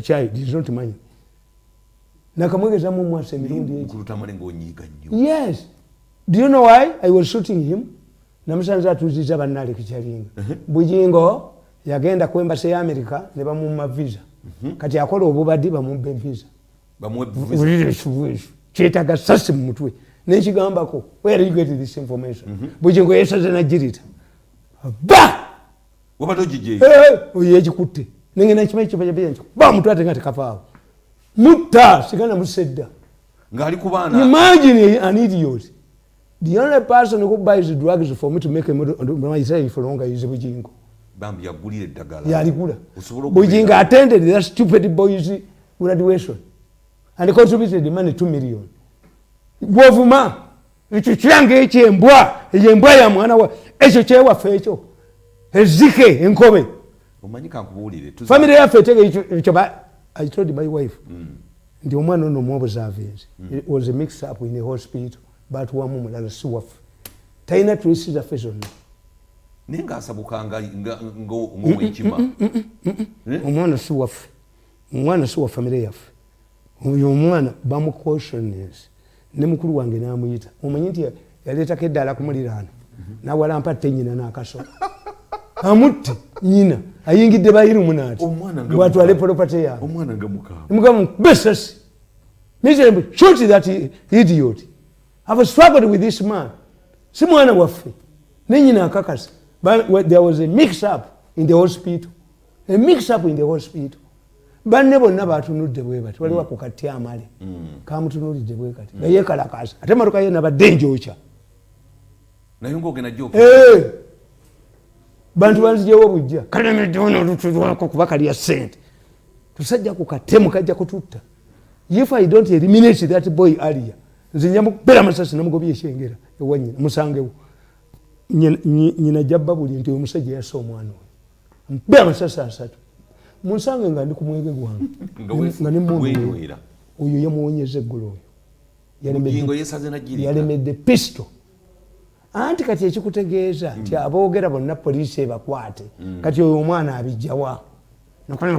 kyayi this is not mine nakamwegezamu mwasa emirundi yes do you know why i was shooting him namusanze atuziza banaleka kyalinga uh-huh. bujingo yagenda ku embasi ya america ne bamumma visa uh-huh. kati akola obubadi bamubbe visa kyetaga sasi mu mutwe nekigambako where you get this information uh-huh. bujingo yesaze najirita ba wabadde ogijje eh, eh, oyo yegikutte nengenda nkimanyi kibajabiyanki bamutwate nga tekavaawo mutta sigana musedda ngaali kubaana imagine an idiot the only person who buys drugs for me to make a model my self for longer is bujingo bambi yagulira eddagala yaligula bujingo attended that stupid boys graduation and contributed money 2 million gwovuma ekyo kiranga ekyo embwa eyo embwa ya mwana wa ekyo kyewaffe ekyo ezike enkobe famire yaffe etegeekyo i told my wife mm. nti omwana ono muobuzavinzi mm. was a mix up in a hospital batuwamu mulala si waffe talina tulisi zaffe zonna naye ngaasabuka ngaowekima mm, mm, mm, eh? omwana si waffe omwana si wa famire yaffe Oyo omwana bamu cautions ne mukulu wange namuyita omanyi nti yaleetako eddaala ku muliraano nawalampa tte nyina n'akasolo amutte nyina ayingidde bayirumu naati bwatwale polopate yangemugamba besasi misembu shot that idiot have struggled with this man si mwana waffe ne nyina akakasa there was a mix up in the hospital a mix up in the hospital banne bonna batunudde bwe bati waliwo ako kati amale mm. kamutunulidde bwe kati nga mm. yekalakaasa ate maluka ye nabadde njokya eh! bantu banzijewo bujja kalemeddewona olutulwako kuba kalya sente tusajja ku katemu kajja kututta if i don't eliminate that boy alia nze nja mukubera masasi namugobya ekyengera ewanyina musangewo nyina jabba buli nti omusajja yasa omwana oyo mpe amasasi asatu munsange nga ndi ku mwege gwange nga ne mundu oyo yamuwonyeza eggulu oyo yalemedde pisto anti kati ekikutegeeza nti mm. aboogera bonna poliisi ebakwate mm. kati oyo omwana abijjawa nakolana